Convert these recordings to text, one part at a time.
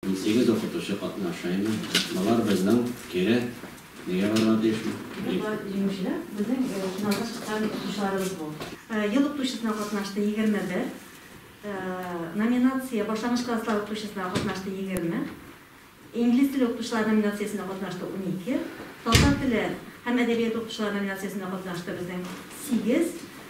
Унсигез укытучы катнаша инде. Болар безнең кире. Нигә барырга тиешме? Болар җиңүчеләр, безнең финалга чыккан укытучыларыбыз бу. Ел укытучысына катнашты, егерме бер. Номинация, башлангыч класслар укытучысына катнашты, егерме. Инглиз теле укытучылары номинациясендә катнашты, унике. Татар теле һәм әдәбияты укытучылары номинациясендә катнашты безнең сигез.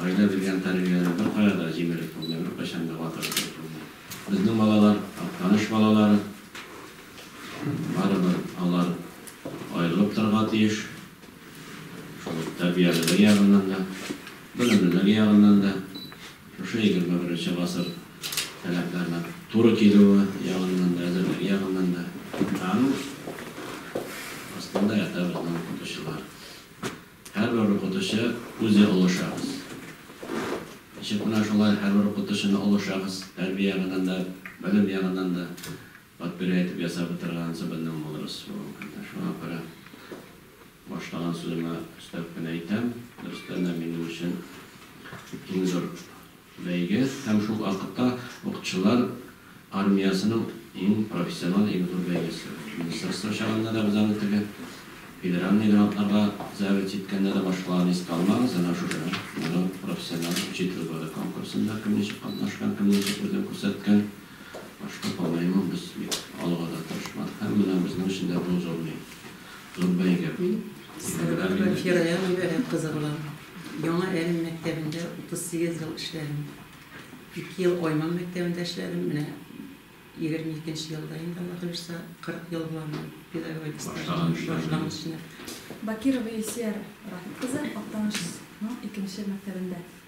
Гаилә биргән тәрбиянең беркая да җиңелеп булмый, беркайчан да ватылып китеп булмый. Безнең балалар, Актаныш балалары, барыбер алар аерылып торырга тиеш, шул ук тәрбиялелеге ягыннан да, белемлелеге ягыннан да, шушы егерме беренче гасыр таләпләренә туры килүе ягыннан да, әзерлеге ягыннан да. Ә аның астында ята безнең укытучылар. Һәрбер укытучы үзе олы шәхес. Ничек менә шулай һәрбер укытучыны олы шәхес, тәрбия ягыннан да, белем ягыннан да подпирай итеп ясап утырганчы безнең мудрос булган көннәр. Шуңа күрә башлаган сүземә өстәп кенә әйтәм, дөрестән дә минем өчен иң зур Бәйге һәм шул вакытта укчылар армиясенең иң профессиональ, иң зур бәйгесе. Министерство чагында да без аны теге федеральный грантларга зәвет җиткәндә дә башкаларны искә алмагыз, әнә шушы елның профессиональ учитель годы конкурсында кем ничек катнашкан, кем ничек үзен күрсәткән, башка по-моему без бик алуга да тырышмадык һәм менә безнең өчен дә бу зур ни. Мин Сәлахова Фирая Гыйбарәт кызы булам. Яңа Әлм мәктәбендә 38 ел эшләдем. Ике ел Айман мәктәбендә эшләдем, менә 22 нче елда инде, Алла кылышса, 40 ел була минем педагогик стажым, башлагач менә. Бакирова Илсөя Рафит кызы, Актанышның икенче мәктәбендә.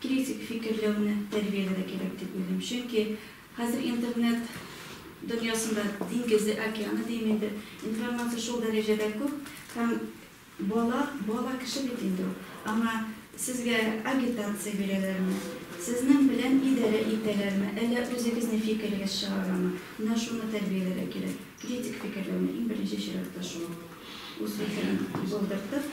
Критик фикерләүне тәрбияләр дә кирәк дип уйлыйм. Чөнки хәзер интернет дөньясында, диңгезе, океаны дим инде, информация шул дәрәҗәдә күп һәм бала, бала кеше бит инде ул. Аңа сезгә агитация бирәләрме, сезнең белән идарә итәләрме, әллә үзегезнең фикерегез чыгарамы, менә шуны тәрбияләр дә кирәк. Критик фикерләүне, иң беренче чиратта шул. Үз фикерен булдыртып.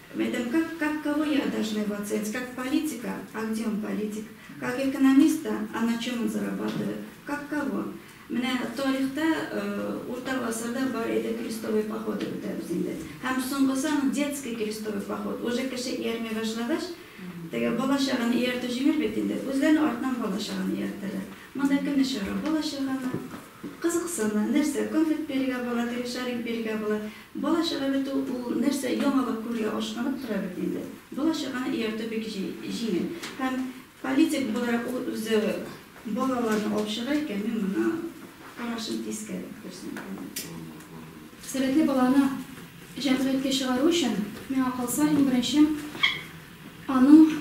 Медом как как кого я должны в оценить как политика а где он политик как экономиста а на чем он зарабатывает как кого менә тарихта урта гасырда бар иде крестовый походы үтәбез инде һәм соңгысы аның детский крестовый поход уже кеше иярми башлагач теге бала чаганы ияртү җиңел бит инде үзләренең артыннан бала чаганы ияртәләр монда кемне чыгарга бала чаганы Кызыксыну, нәрсә, конфет бирергә була, теге шарик бирергә була. Бала чага бит ул, ул нәрсә, яңалык күрергә ашкынып тора бит инде. Бала чаганы ияртү бик җи, җиңел. Һәм политик буларак ул үзе балаларны алып чыга икән, мин моңа карашым тискәре, дөресен әйткәндә. Сәләтле баланы җәмгыятькә чыгару өчен, миңа калса, иң беренче, Аның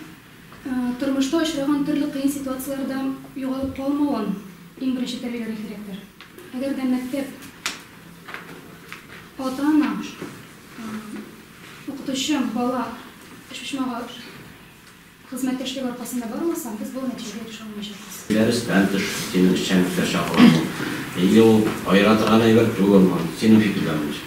тормышта очраган төрле кыен ситуацияләрдә югалып калмавын иң беренче тәрбияләргә кирәктер. Әгәр дә мәктәп, ата-ана, укытучы, бала өчпочмагы хезмәттәшлеге аркасында бармаса, без бу нәтиҗәгә ирешә алмаячакбыз. Дәрестән тыш сине эшчәнлеккә чакырамы? Или ул аера торган әйбер түгелме? Синең фикерләрең ничек?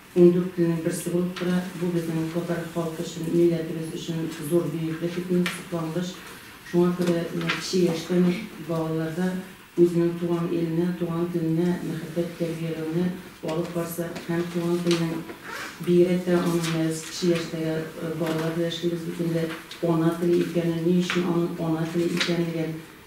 Ундүрт көннең берсе булып тора. Бу безнең татар халкы өчен, милләтебез өчен зур бөеклек бит менә, соклангыч. Шуңа күрә менә кече яшьтән үк балаларда үзенең туган иленә, туган теленә мәхәббәт тәрбияләүне алып барса һәм туган телнең, бигрәк тә аның менә без кече яшьтәге балалар белән эшлибез бит инде, ана теле икәнен, ни өчен аның ана теле икәнлеген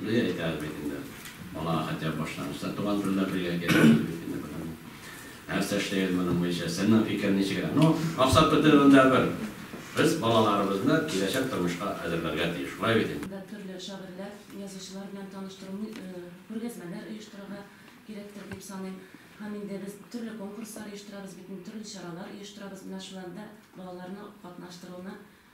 Менә әйтәбез бит инде, балага хотя бы башлангычта туган телдә белергә кирәк дип бит инде без аны. Нәрсә эшлибез моның буенча? Сезнең фикер ничегрәк? Ну, максат бетерүендә бер. Без балаларыбызны киләчәк тормышка әзерләргә тиеш. Шулай бит инде. Да төрле шагыйрьләр, язучылар белән таныштыру, күргәзмәләр оештырырга кирәктер дип саныйм. Һәм инде без төрле конкурслар оештырабыз бит инде, төрле чаралар оештырабыз. Менә шуларда балаларны катнаштыруны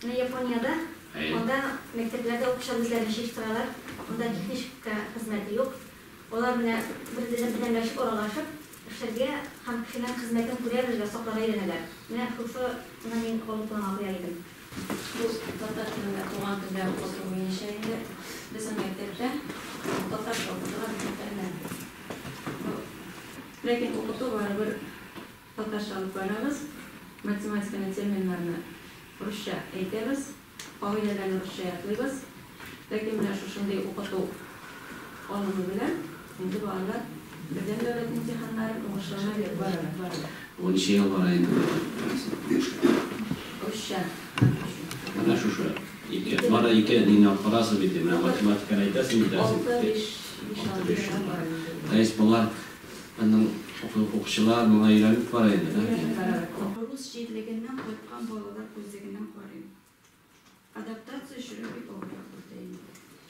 Менә Япониядә, анда мәктәпләрдә укучылар үзләрен җыештыралар, анда техничка хезмәте юк. Алар менә бер-берсенә беләмләшеп, аралашып эшләргә һәм кешенең хезмәтен күрә белергә, сакларга өйрәнәләр. Менә шушыны мин алгы планга куяр идем. Бу татар телендә, туган телдә укыту буенча инде безнең мәктәптә татарча укытырга бик мәтәлләр. Ләкин укыту барыбер. Татарча алып барабыз, математиканы, терминнарны русча әйтәбез, кагыйдәләрне русча ятлыйбыз. Ләкин менә шушындый укыту алымы белән инде балалар Бердәм дәүләт имтиханнарын уңышлы гына биреп баралар. Ул ничә ел бара инде бу русча? Русча. Менә шушы. Ике. Бары ике динне алып барасыз бит, менә математиканы әйтәсез, әйтәсез. Алты, биш, биш, алты. То есть болар Аннан укучылар моңа өйрәнеп карый инде, да? Өйрәнеп карарга. Рус җирлегеннән кайткан балалар күзлегеннән карыйм. Адаптация чоры бик авыррак бирде инде.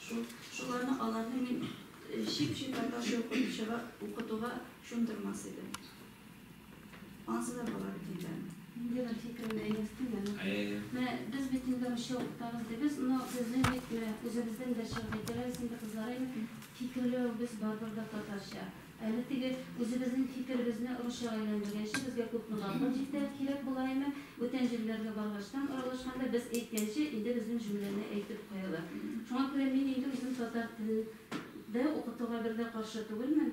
Шул, шуларны, аларны мин чип-чип татарча укытучыга, укытуга чумдырмас идем. Азгы булыр дидем. Инде бер фикерне әйтәсем аны. Әйе. Менә без бит инде русча укытабыз дибез, но безнең бит менә үзебездән дә чыгып әйтәләр инде кызлар инде фикерләвебез барыбер дә татарча. Әле теге үзебезнең фикеребезне русчага әйләндергәнче безгә күпме вакыт җитә, кирәк була ими. Бүтән җирләргә баргачтан, аралашканда без әйткәнче инде безнең җөмләне әйтеп куялар. Шуңа күрә мин инде үзем татар телен дә укытуга бер дә каршы түгелмен.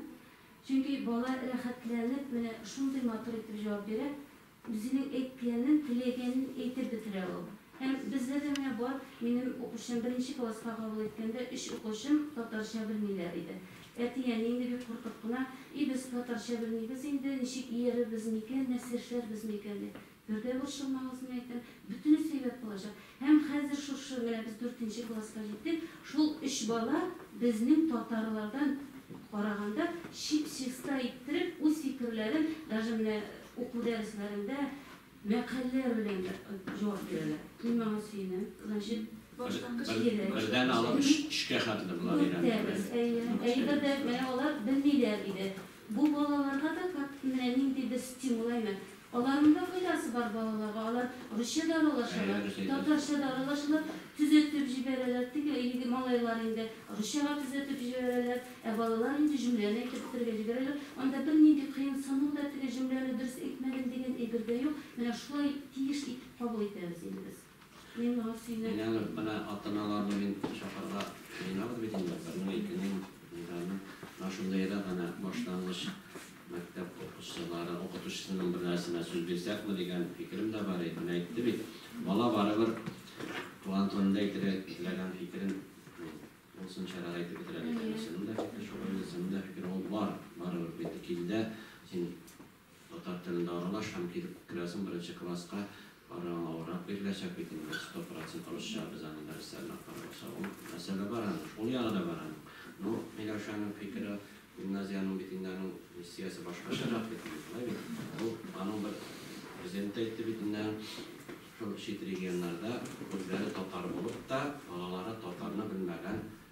Чөнки бала рәхәтләнеп менә шундый матур итеп җавап бирә, үзенең әйткәнен, теләгәнен әйтеп бетерә ул. Һәм бездә дә менә бар, минем укучым, беренче класска кабул иткәндә өч укучым татарча белмиләр иде. Әти-әни инде бик куркып кына, И, без татарча белмибез инде, ничек иярербез микән, нәрсә эшләрбез микән, дип. Бер дә борчылмагыз, мин әйтәм, бөтенесе әйбәт булачак. Һәм хәзер шушы, менә без дүртенче класска җиттек, шул өч бала безнең татарлардан караганда чип-чиста иттереп, үз фикерләрен, даже менә уку дәресләрендә мәкальләр белән дә җавап бирәләр. Мин моңа сөенәм. Значит, башлангыч кирәк. Бердән алып өчкә хәтле болар өйрәнделәр. Дүрт дәрес, әйе. Әйе, бер дә, менә алар белмиләр иде. Бу балаларга да как менә нинди бер стимул әймәт. Аларның да файдасы бар балаларга, алар русча да аралашалар, татарча да аралашалар, төзәтеп җибәрәләр, теге егет малайлар инде русчага төзәтеп җибәрәләр, ә балалар инде җөмләне әйтеп бетерергә җибәрәләр, анда бернинди кыенсыну да, теге җөмләне дөрес әйтмәдем дигән әйбер дә юк, менә шулай тиеш итеп кабул итәбез инде без. Мин аны, менә ата-аналарны мин чакырырга җыенабыз бит инде, бернең, икенең, унданың. Менә шундый рәк әнә башлангыч мәктәп укучылары, укытучысының бер нәрсенә сүз бирсәкме дигән фикерем дә бар иде. Менә әйтте бит, бала барыбер туган телендә әйтергә теләгән фикерен ул сынчарак әйтеп бетерә дигән нәрсә. Минем дә фикер шулай, үземнең дә фикерем ул бар, барыбер бит, килдә, син Татар телендә аралаш һәм килеп керәсең беренче класска, ары аңа урак биреләчәк бит инде, сто процент русча без аны дәресләренә карамаса ул мәсьәлә бар аның, шул ягы да бар аның. Ну, Миләүшәнең фикере, гимназиянең бит инде аның миссиясе башкачарак бит инде, шулай бит? Ул, аның бер президенты әйтте бит инде, шул чит регионнарда үзләре татар булып та, балалары татарны белмәгән,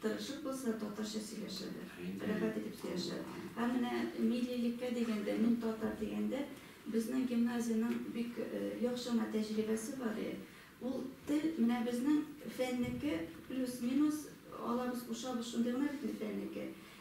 Тырышып булса, татарча сөйләшәләр, рәхәт итеп сөйләшәләр. Һәм менә миллилеккә дигәндә, мин татар дигәндә, безнең гимназиянең бик яхшыгына тәҗрибәсе бар иде. Ул тел, менә безнең фәннеке плюс-минус, алабыз, кушабыз, шундый гына бит инде фәннеке.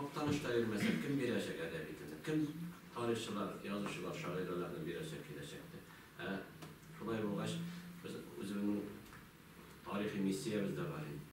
Актаныш та бирмәсә, кем бирәчәк әдәби телне? Кем тарихчылар, язучылар, шагыйрәләрне бирәчәк киләчәктә? Ә шулай булгач, без үзебезнең тарихи миссиябез дә бар инде.